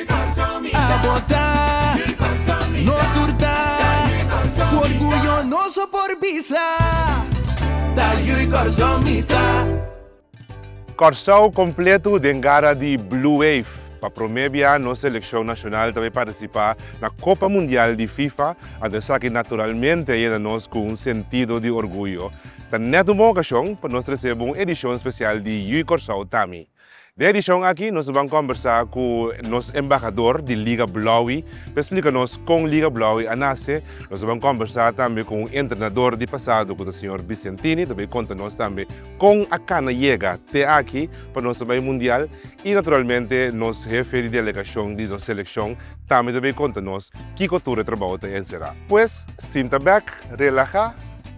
A bota, nos tur ta Ku orguyo noso por bisa Ta yu i Kòrsou mi ta. Kòrsou kompletu den gara di Blue Wave. Pa promé bia nos selekshon nashonal ta bai partisipá na Kopa Mundial di Fifa, anto esaki naturalmente a yena nos ku un sentido di orguyo. Ta nèt un bon okashon pa nos trese bo un edishon spesial di Yu i Kòrsou ta mi. Den e edishon aki nos a ban kòmbersá ku nos embahador di Liga Blaui pa e splika nos kon Liga Blaui a nase. Nos a ban kòmbersá tambe ku un entrenador di pasado ku ta señor Vicentini, ta bai konta nos tambe kon a kana yega te aki pa nos ta bai mundial. I naturalmente nos hefe di delegashon di nos selekshon tambe ta bai konta nos kiko tur e trabou ta enserá. Pues sinta bèk, relahá.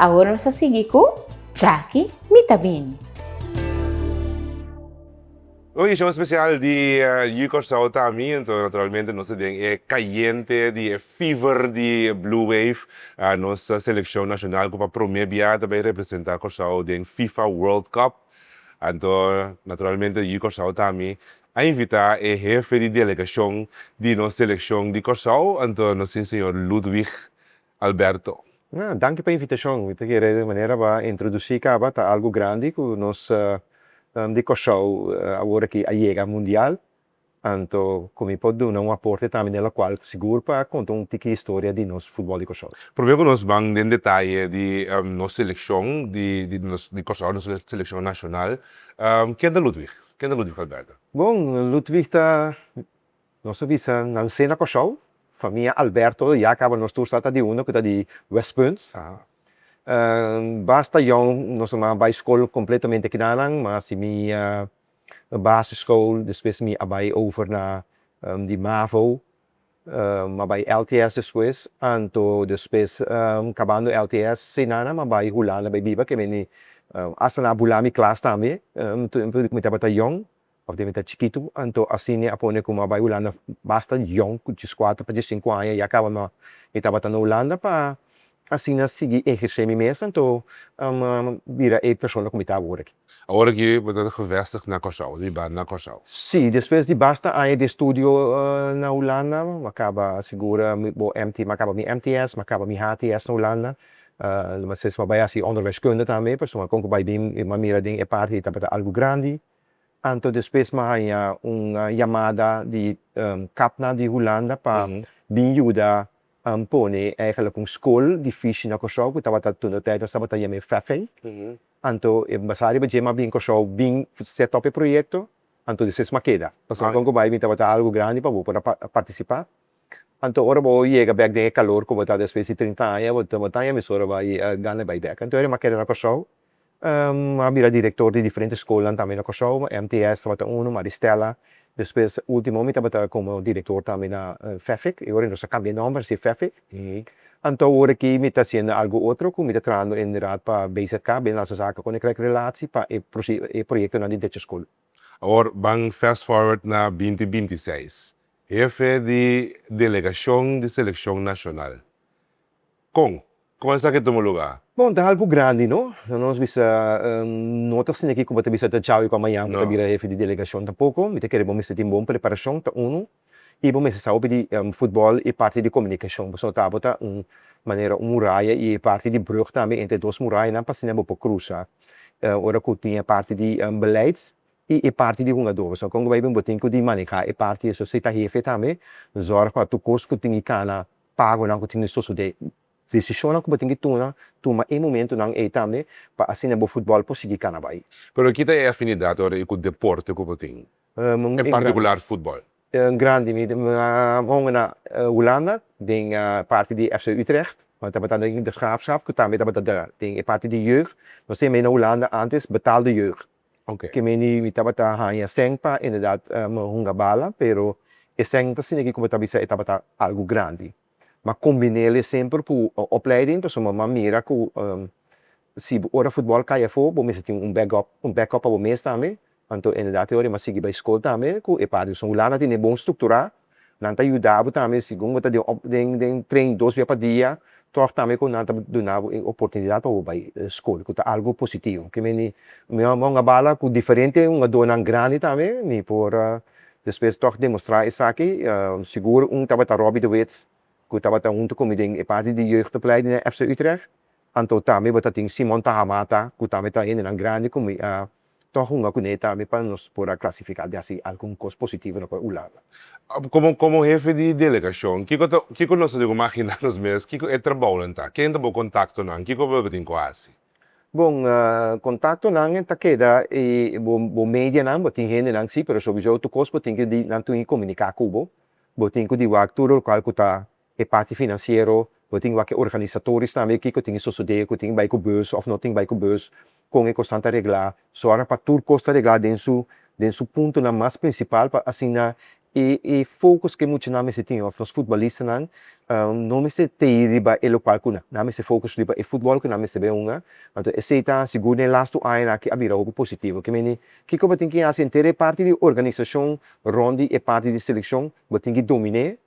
Awor nos a sigui cu Jackie mi ta bini. Un edicion special di You Curaçao ta ami, enton naturalmente nos ta den e cayente di e fever di Blue Wave, nos seleccion nacional cu pa prome bia ta bay representa Curaçao den Fifa World Cup. Anto naturalmente You Curaçao ta ami a invita e hefe di delegacion di nos seleccion di Curaçao, anto nos sin señor Ludwig Alberto. Nah, danki pa invitacion. Mi ta kere den manera pa introduci caba ta algo grandi cu nos nan di Cosou awor aki a yega mundial. Anto cu mi por duna un aporte tambe den locual sigur pa conta un tiki historia di nos futbol di Cosou. Prome cu nos ban den detaye di nos seleccion di di Cosou, nos seleccion nacional. Ken ta Ludwig? Ken ta Ludwig Alberto? Bon, Ludwig ta. Nos a bisa nan sena Kòrsou. Famia Alberto lo ya kaba nos tur sa ta di una ku ta di Westpunt. Basta Jon, nos mamá a bai skol kompletamente kinanan, ma si mi a basiskool, despues mi a bai over na di mavo, mi a bai LTS despues, anto despues kabando LTS si nan a bai Hulanda bai biba, ke meni asta nan a bula mi klas tambe, mi tabata Jon. Of debe ta chikitu, anto asina a pone kuma bai Hulanda basta yòn, ku dieskuater pa diesinku aña ya kaba nò. Mi tabata na Hulanda pa asina sigui ehersé mi mes, anto bira e persona ku mi ta awor aki. Awor aki bo ta gevestig na Kòrsou, bo ta biba na Kòrsou? Sí, despues di basta aña di estudio na Hulanda, mi a kaba sigura bo MT, mi a kaba mi MTS, mi a kaba mi HTS na Hulanda, lo mas es mi a bai hasi onderwijskunde tambe, pasobra kon ku bai bin, mi a mira den e parti tabata algu grandi. Anto despues mi a haña un yamada di kapnan di Hulanda pa bin yuda pone eigenlijk un skol di fishi na Kòrsou ku tabata tur no tèd nos tabata yam'é Fèfèi. Anto e basá riba dje mi a bin Kòrsou bin sèt òf e proyekto, anto despues mi a keda. Pasobra kon ku bai bin tabata algu grandi pa bo por a partisipá. Anto ora bo yega bèk den e kalor ku bo ta despues di trinta aña, bo ta haña emisora bo a gana bai bèk. Anto ora mi a keda na Kòrsou a bira director di diferente scolnan tambe na Kòrsou, MTS tabata unu, Maristella, despues ultimo mi tabata como director tambe na fefik, y ora nos a cambia nomber a sigue fefik, anto ora aki mi ta haciendo algo otro cu mi ta trabahando en raad pa BZK, Binnenlandse Zaken Koninkrijk Relatie, pa e proyectonan di Dutch School. Awor ban fast forward na binti binti seis, hefe di delegacion di seleccion nacional, Kon? Koman esaki e tuma luga? Bon, ta algu grandi, no? Nan nos bisa, no ta asina ki ku bo ta bisa ta chau i ku amaña bo ta bira hefi di delegashon tampoko. Mi ta kere bo mester tin bon preparashon, ta unu, i bo mester sa hopi di futbòl i parti di komunikashon, pasobra bo ta abo ta un manera un muraya i e parti di brùg tambe entre dos murayanan pa asina bo por krusa ora ku tin e parti di beleids i e parti di hungadó. Pasobra kon ku bai bin bo tin ku di maneha e parti esun. Si ta hefe tambe, zòrg pa tur kos ku tin di kana. pagonan ku tin di sosodé. Desishonnan ku bo tin di tuma, tuma e momentunan ei tambe pa asina bo futbòl por sigui kana bai. Pero ki ta e afinidat ora i ku deporte ku bo tin, en partikular futbòl? Un grandi. Mi a honga na Hulanda den parti di FC Utrecht, no tabata den de Graafschap ku tambe tabata den e parti di jeugd. Nos tin ei na Hulanda ántes Betaalde Jeugd. Ke me ni mi tabata haña sèn pa inderdat me hunga bala, pero e sèn no ta siña ku me ta bisa e tabata algu grandi. Mi a kombinél esemper ku opleiding, pasobra mi a mira ku si ora futbòl kai afó bo mester tin un bèk òp, un bèk òp pa bo mes tambe. Anto inderdat e ora mi a sigui bai skol tambe ku e partenan. Hulanda a tene bon strukturá Nan ta yuda bo tambe segun bo ta den den train dos bia pa dia tòg tambe ku nan ta duna bo e oportunidat pa bo bai skol ku ta algu positivo ke meni a bala ku diferente hungadónan grandi tambe mi por despues tòg demostrá esaki sigur un tabata Robbie de Wits ku tabata huntu ku mi den e parti di jeugdopleid di Fc Utrecht anto tambe bo ta tin Simon Tahamata ku tambe ta hendenan grandi ku mi. Ta hunga kuné tambe pa nos por a klasifiká di hasi algun kos positivo no por ulala. Komo komo hefe di delegashon, kiko ta kiko nos ta debe ku maginá nos mes? Kiko e trabounan ta? Ken ta bo kontaktonan? Kiko bo tin ku hasi? Bon, kontaktonan ta keda e bo bo medianan. Bo tin hendenan sí, pero sowisou tur kos bo tin ku di nan tui komuniká ku bo. Bo tin ku di wak tur lokaal ku ta. e parti finansiero, bo tin wak e organisatoris tambe kiko tin sosodé, ku tin bai ku bus òf no tin bai ku bus, kon e kosnan ta reglá. So ora pa tur kos ta reglá den su den su puntonan mas prinsipal pa asina e e fokus ku e muchanan mester tin òf nos futbolistanan no mester te'i riba e lokal ku nan mester fokus riba e futbòl ku nan mester bai hunga. Anto esei ta sigur den las tu añanan aki a bira hopi positivo. Ke meni, kiko bo tin ke hasi? Henter e parti di organisashon rònt di e parti di selekshon bo tin ki domin'é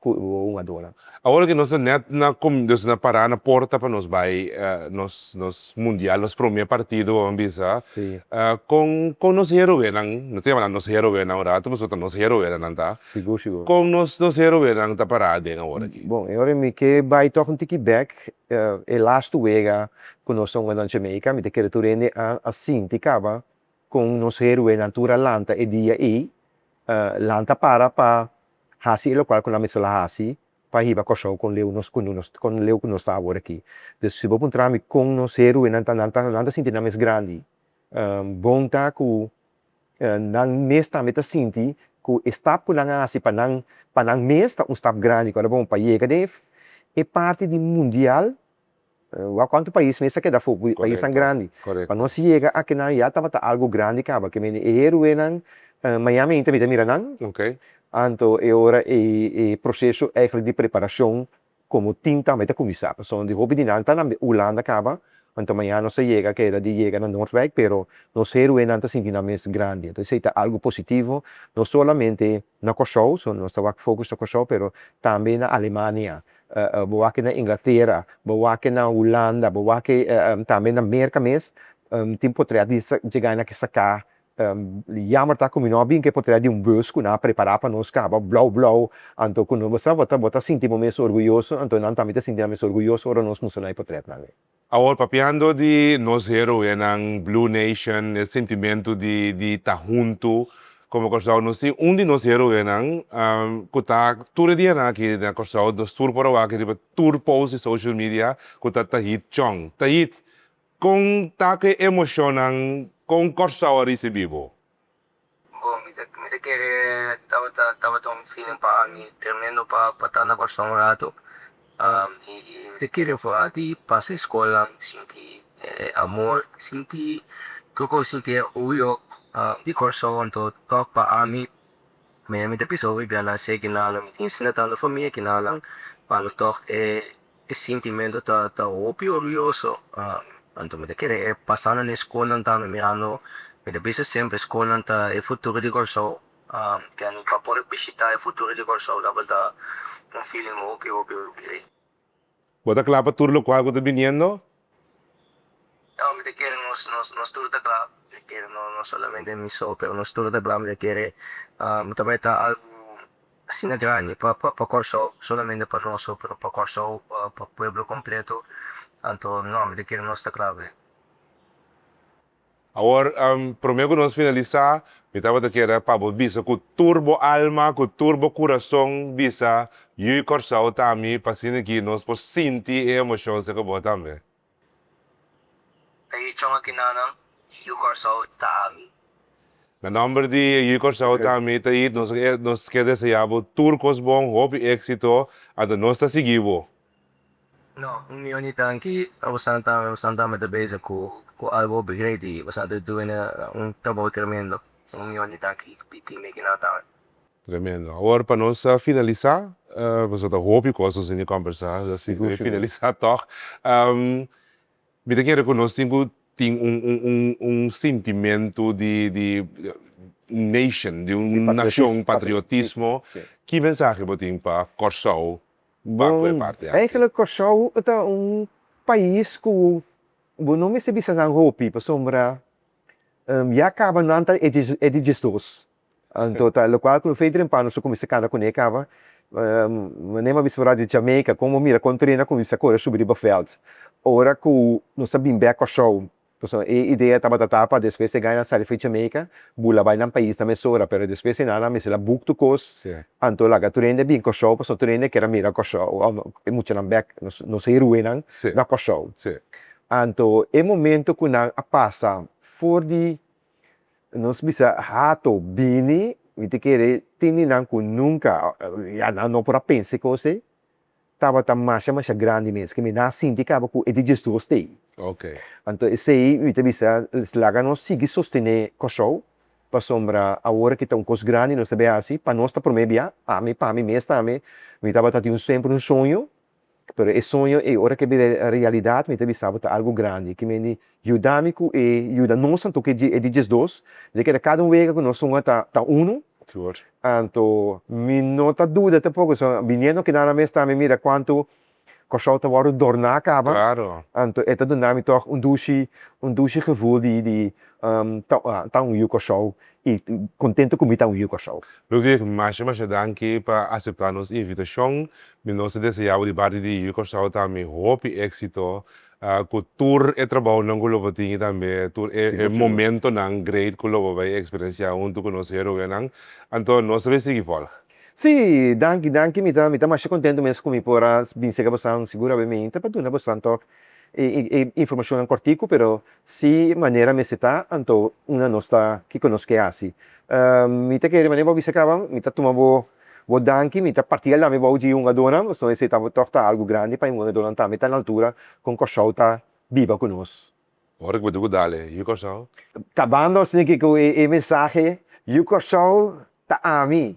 ku un adora. Awor ke nos ta nèt na kominsha, nos na pará na porta pa nos bai nos nos mundial, nos promé partido bo ban bisa sa? Si. Kon kon nos heroenan, nos ta yama nan nos heroenan un ratu pasobra ta nos heroenan nan ta. Sigur sigur. Kon nos nos heroenan ta pará den awor aki? Bon, e ora mi ke bai tòg un tiki bèk, e lastu wega ku nos ta hunga nan Jamaica, mi ta kere tur hende a sinti kaba kon nos heruenan tur a lanta e dia ei, lanta para pa hasi e lokual ku nan mester la hasi pa hiba Kòrsou kon leu nos ku nos kon leu ku nos ta awor aki. Entonces si bo puntra mi kon nos heruenan ta nan ta nan ta sinti nan mes grandi bon ta ku nan mes tambe ta sinti ku e stap ku nan a hasi pa nan pa nan mes ta un stap grandi ku a dor bo un pa yega den e parti di mundial. Wou konta pais mester keda fu paisnan grandi pa nos yega aki nan ya tabata algu grandi kaba ke mende e heroenan miami ainta mita mira nan anto e ora e proseso eigenlijk di preparashon komo tim tambe ta kuminsá pasobra di hopi di nan ta nan hulanda kaba anto mañana nos ta yega keda di yega na nordwijk pero nos heroenan ta sinti nan mes grandi anto esei ta algu positivo no solamente na kòrsou nos ta wak fokus na kòrsou pero tambe na alemania. bo wak na Inglatera, bo wak na Hulanda, bo wak tambe na Merka mes, tin potrea di jega na kisa ka, yamber ta ku mi no a bin ke potrea di un bus ku nan a prepara pa nos kaba blou blou, anto ku bo sa bo ta sinti bo mes orguyoso, anto nan tambe ta sinti nan mes orguyoso ora nos mustranan e potretnan ei. Awor papiando di nos heroenan, Blue Nation, e sentimentu di di ta huntu como Kòrsou. Nos tin un di nos heroenan cu ta tur e dianan aki na Kòrsou, nos tur por a wak riba tur post di social media cu ta Tahit Chong. Tahit, con ta cu e emocionnan con Kòrsou a ricibi bo? Bo, mi ta mi ta kere tabata tabata un feeling pa mi tremendo pa pa ta na Kòrsou un ratu. i mi ta kere for a di pasa e skola mi sinti e amor, mi sinti tur kos, mi sinti e oyo di Kòrsou anto tòg pa ami. Mi ta bisa hopi bianan si e kinanan mi tin sinta tando famia kinanan pa lo tòg e E sintimentu ta ta hopi orguyoso. Anto mi ta kere pasando na e skolnan tambe mirando, mi ta bisa semper skolnan ta e futuro di Kòrsou. Ken ta por bishita e futuro di Kòrsou ta por ta un feeling hopi hopi grei. Bo ta kla pa tur lokual ku ta biniendo? No, mi ta kere nos nos nos tur ta kla, mi ta kere no no solamente mi so, pero nos tur ta kla mi ta kere mi ta bai ta algu asina grandi pa pa pa Kòrsou, no solamente pa nos so, pero pa Kòrsou, pa pa pueblo kompleto, anto no, mi ta kere nos ta kla be. Awor, prome ku nos finalisá, mi tabata kere pa bo bisa ku tur bo alma, ku tur bo kurason bisa yu Kòrsou ta mi, pa asina aki nos por sinti e emoshon seka bo tambe. E yu chong aki na nan, Yu Kòrsou ta mi. Na nòmber di e yu Kòrsou ta mi, Tait, nos nos ke deseá bo tur kos bon, hopi éksito, anto nos ta sigui bo. No, un mi oní tanki a bosan ta ami, bosan tambe ta bezig ku ku algu hopi greiti, bosan ta duna un trabou tremendo, so un mi oní tanki di tin mi kinan ta ami. Tremendo. Awor pa nos a finalisá, boso ta hopi kos nos bini kòmbersá, así ku mi finalisá tòg. Mi ta kere ku nos tin ku tin un un un sintimentu di di un nation, di un nashon, patriotismo, ki mensahe bo tin pa Kòrsou Bon, eigenlijk Kòrsou ta un pais ku bo no mester bisa nan hopi pasobra ya kaba nan ta e di diesdos. Anto ta lokual ku Fei Drempano su kuminsá kanta kuné kaba, manera bo a bisa wòrdu di Jamaica, kon bo mira kon trena kuminsá kore subi riba vèlt. Ora ku nos ta bin bèk Kòrsou Pasobra e idea tabata ta pa despues e gana sali for di Jamaica, bula bai nan pais ta mesora, pero despues e nana a mester la buk tur kos, anto laga tur hende bin Kòrsou, pasobra tur hende ker a mira Kòrsou, òf e muchanan bèk, nos nos heroenan na Kòrsou. Anto e momento ku nan a pasa for di, nos bisa, hato, bini, mi ta kere tin di nan ku nunka, ya nan no por a pensa e kos ei, tabata masha masha grandi mes ke mi nan a sinti kaba ku e digestion stay. Anto esei mi ta bisa laga nos sigui sostené Kòrsou pasobra awor ke ta un kos grandi nos ta bai hasi pa nos ta promé bia, ami pa mi mes tambe mi tabata tin semper un soño pero e soño ei ora ke a bira realidat mi ta bisa bo ta algu grandi kimendi Yuda mi ku e yuda nos anto ke e di diesdos mi ta keda kada un wega ku nos honger ta ta uno anto mi no ta duda tampoco so biniendo keda nan mes ta mi mira kuantu Kòrsou ta wòrdu dorná kaba anto e ta duna mi tog un dushi un dushi gevoel di di ta un yu Kòrsou i kontento ku mi ta un yu Kòrsou. Ludwig masha masha danki pa aseptá nos invitashon mi nos ta deseá bo di parti di yu Kòrsou tambe hopi éksito Ku tur e trabounan ku lo bo tin i tambe tur e momentonan great ku lo bo bai eksperensiá huntu ku nos héroenan, anto nos ta bai sigui vòlg. Sí, danki, danki. Mi ta mi ta masha kontentu mes ku mi por a bin sega bosan. Sigur a bai mi ta pa duna bosan tò e e informashonnan kòrtiku, pero si manera mester ta, anto una nos ta kiko nos ke hasi. Mi ta kere manera bo a bisa kaba, mi ta tuma bo Bo danki, mi ta parti el dami bou dji hungadónan, pasobra esei ta tòg ta algu grandi pa e hungadónan tambe ta na altura kon Kòrsou ta biba ku nos. Ora ku bo duku dale Yu Kòrsou. Kabando asina ke ku e mensahe Yu Kòrsou ta ami.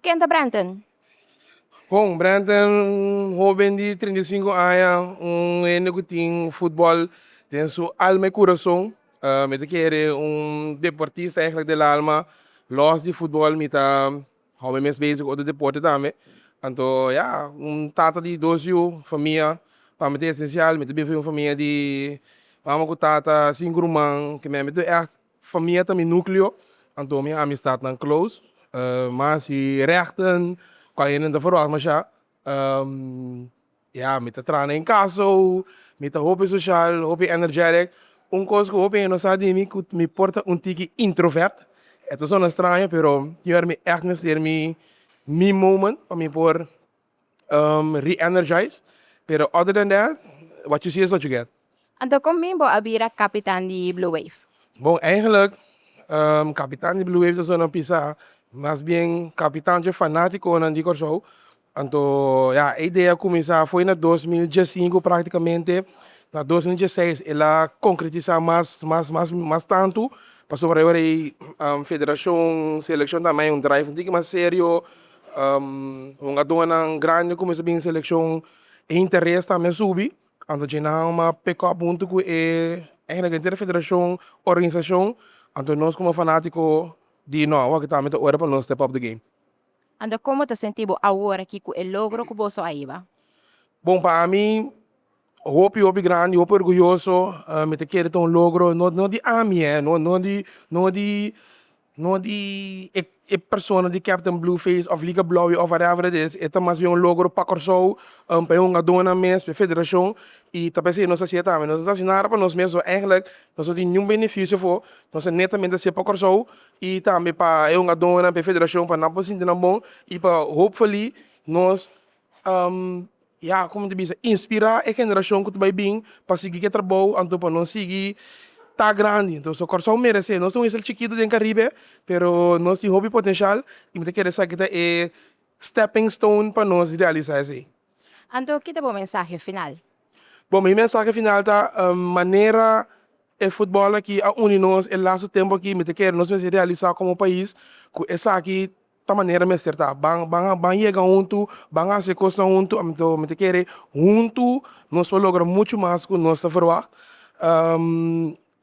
Ken ta Brenton? Bon, Brenton hoben di trinta i sinku aña, un hende ku tin futbòl den su alma i kurason. Mi ta kere un deportista ègentlik del alma. Lòs di futbòl mi ta hòbi mes bezi ku otro deporte tambe. Anto ya, un tata di dos yu, famia pa mi ta esensial. Mi ta bin for di un famia di mama ku tata, sinku ruman, ke mi a mi tur ègt. Famia ta mi nukleo, anto mi amistatnan close. Ma si rèkten ku alenden ta feròs mashá, ya mi ta traha na e kaso, mi ta hopi soshal, hopi energetic. Un kos ku hopi hende no sa di mi ku mi por ta un tiki introvert, e ta sona straño pero tin ora mi èkt mester mi mi moment pa mi por re-energize pero other than that what you see is what you get. Anto kon mi bo a bira kapitan di Blue Wave? Bon eigenlik kapitan di Blue Wave ta sunan pisa mas bien kapitanchi fanatikonan di Kòrsou anto ya e idea kuminsá afo na dos mil diesinku praktikamente na dos mil dieseis el a konkretisá mas mas mas mas tantu pasobra e ora ei federashon selekshon ta mai un drive un tiki mas serio. Un aduanan grandi cuminsa bin seleccion e interes tambe a subi anto dje nan a pekop hunto cu e eigenato henter e federacion organisacion anto nos como fanatico di no awor kitambe ta ora pa nos step up the game. Anto como ta sentibo awor aki cu e logro cu boso a hiba? Bon pa ami. Hopi hopi grandi, hopi orguyoso, mi ta kere ta un logro no no di ami eh, no no di no di no di e e persona di Captain Blueface of Liga Blauwe of whatever it is, e ta mas bien un logro pa Kòrsou, pa e hungadónan mes, pa e federashon, i ta p'esei nos ta hasié tambe, nos no ta hasi nada pa nos mes, so eigelik nos no tin niun benefisio afó, nos ta netamente hasié pa Kòrsou i tambe pa e hungadónan, pa e federashon pa nan por sinti nan bon i pa hopefully nos Ya, komo ta bisa, inspirá e generashon ku ta bai bin pa sigui ku e trabou anto pa nos sigui ta grandi. Anto so Kòrsou meresé. Nos tin un isla chikitu den Karibe, pero nos tin hopi potenshal i mi ta kere sa ki ta e stèping stoun pa nos realisá esei. Anto ki ta bo mensahe final? Bon, mi mensahe final ta, manera e futbòl aki a uni nos e lastu tempu aki, mi ta kere nos mester realisá komo pais ku esaki Ta manera mester ta. Ban ban a ban yega huntu, ban a hasi kosnan huntu, a mester mi ta kere huntu nos por logra muchu mas ku nos ta verwagt.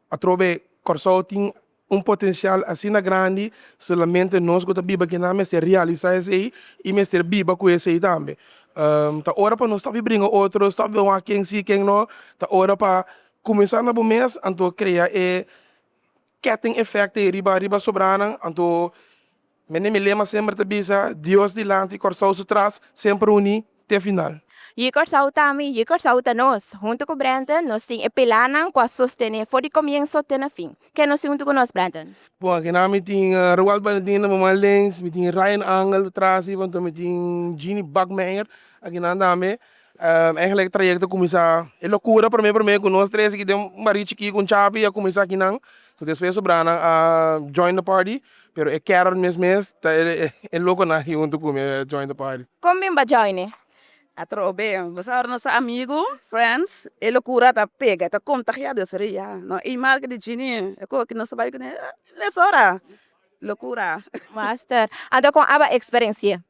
Atrobe Kòrsou tin un potensial asina grandi, solamente nos ku ta biba aki nan mester realisá esei i mester biba ku esei tambe. Ta ora pa nos stop di bringa otro, stop di wak ken si ken no, ta ora pa kuminsá na bo mes anto krea e ketting effect ei riba riba sobranan anto mende mi lema semper ta bisa Dios dilanti Kòrsou su tras semper uni te final. Yi Kòrsou ta mi, yi Kòrsou ta nos. Huntu ku Brenten nos tin e pilarnan ku a sostené for di komienso te na fin. Ke nos tin huntu ku nos Brenten? Bon aki nan mi tin Roald Valentin na moman Lens, mi tin Ryan Angle atrás riba anto mi tin Jeanny Bachmeyer aki nan tambe. Eigenlijk trajecto cuminsa e locura prome prome cu nos tres aki den baria chiki cu un chapi a cuminsa aki nan to despues su bra nan a join the party pero e Carol mes mes ta e loco nan aki hunto cu mi a join the party. Con bin ba join e? A trobe be boso ahora nos ta amigo, friends, e locura ta pega ta contagia dus ri ya no imal ke di Jini e cu aki nos ta bay cune, ah, mesora locura. Master, anto con a ba experencia?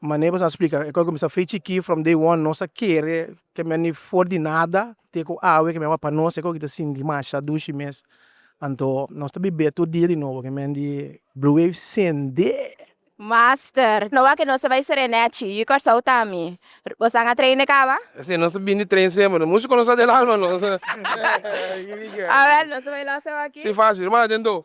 Ma neighbors a splica e cominsá fei chikí from day one nos a kere kemia ni for di nada te cu awe kemia awa pa nos e coki ta sinti masha dushi mes anto nos ta bibé tur dia di nobo kemia en di blue wave sendé. Master, no wak nos ta bai serenechi, ui Corsou ta ami. Bosan a train de caba? Sí, nos ta bin di train semper, no musu conosa del alma nos. Awel, nos ta bai losa waki? Sí, facil, manda den do.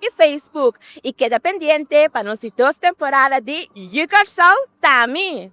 y Facebook y keda pendiente pa nos dos temporada di You Kcrsau Tami!